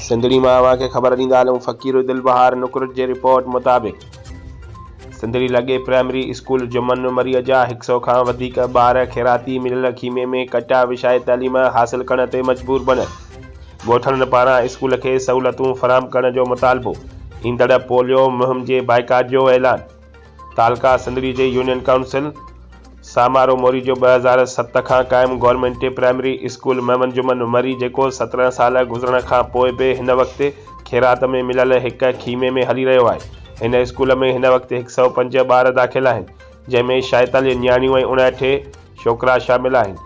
سنڌڙي مان اوهان کي خبر ڏيندا هلون فقير دل بهار نقرت جي رپورٽ مطابق سنڌڙي لڳي پرائمري اسڪول جمن مريء جا هڪ سئو کان وڌيڪ ٻار خيراتي مليل خيمي ۾ ڪٽا وڇائي تعليم حاصل ڪرڻ تي مجبور بڻيل ڳوٺاڻن پاران اسڪول کي سهولتون فراهم ڪرڻ جو مطالبو ايندڙ پوليو مهم جي بائيڪاٽ جو اعلان تعلقه سنڌڙي جي يونين ڪائونسل سامارو موري جو ٻه هزار ست کان قائم government primary school Muhammad Juman Marri جيڪو سترهن سال گذرڻ کان پوء به هن وقت خيرات ۾ مليل هڪ خيمي ۾ هلي رهيو آهي هن اسڪول ۾ هن وقت هڪ سئو پنج ٻار داخل آهن جنهن ۾ شائتاليهه نياڻيون ۽ اڻاٺي ڇوڪرا شامل آهن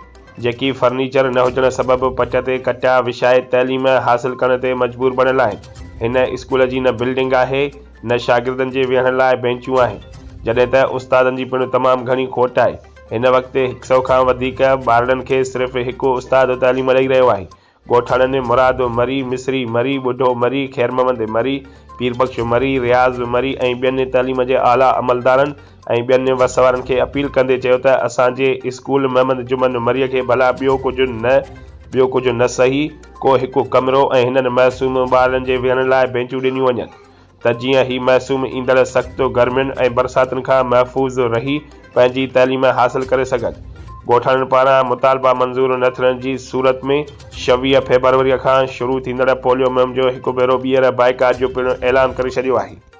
جيڪي فرنيچر نه هجڻ سبب پٽ تي ڪٽا وشائي تعليم حاصل ڪرڻ تي مجبور بڻيل آهن هن اسڪول جي نه بلڊنگ آهي نه شاگردن جي ويهڻ لاء بينچون آهن، جڏهن ته استادن جي پڻ تمام گهڻي کوٽ آهي. هن وقت هڪ سئو کان وڌيڪ ٻارڙن کي صرف هڪ استاد تعليم ڏئي رهيو آهي. ڳوٺاڻن ۾ مراد مري، مصري مري، ٻڍو مري، خيرمحمد مري، پير بخش مري، رياض مري ۽ ٻين تعليم جي اعليٰ عملدارن ۽ ٻين وس وارن کي اپيل ڪندي چيو ته اسان جي اسڪول محمد جمن مري کي ڀلا ٻيو ڪجهه نه ٻيو ڪجهه نه سهي ڪو هڪ ڪمرو ۽ هنن معصوم ٻارڙن جي ويهڻ لاء بينچون ڏنيون وڃن. ته جيئن هي معصوم ايندڙ سخت گرمين ۽ برساتن کان محفوظ رهي پنهنجي تعليم حاصل ڪري سگهن. ڳوٺاڻن پاران مطالبا منظور نه ٿيڻ جي صورت ۾ شويهه فيبروريء کان شروع ٿيندڙ پوليو مهم جو هڪ ڀيرو ٻيهر بائيڪاٽ جو پڻ اعلان ڪري ڇڏيو آهي.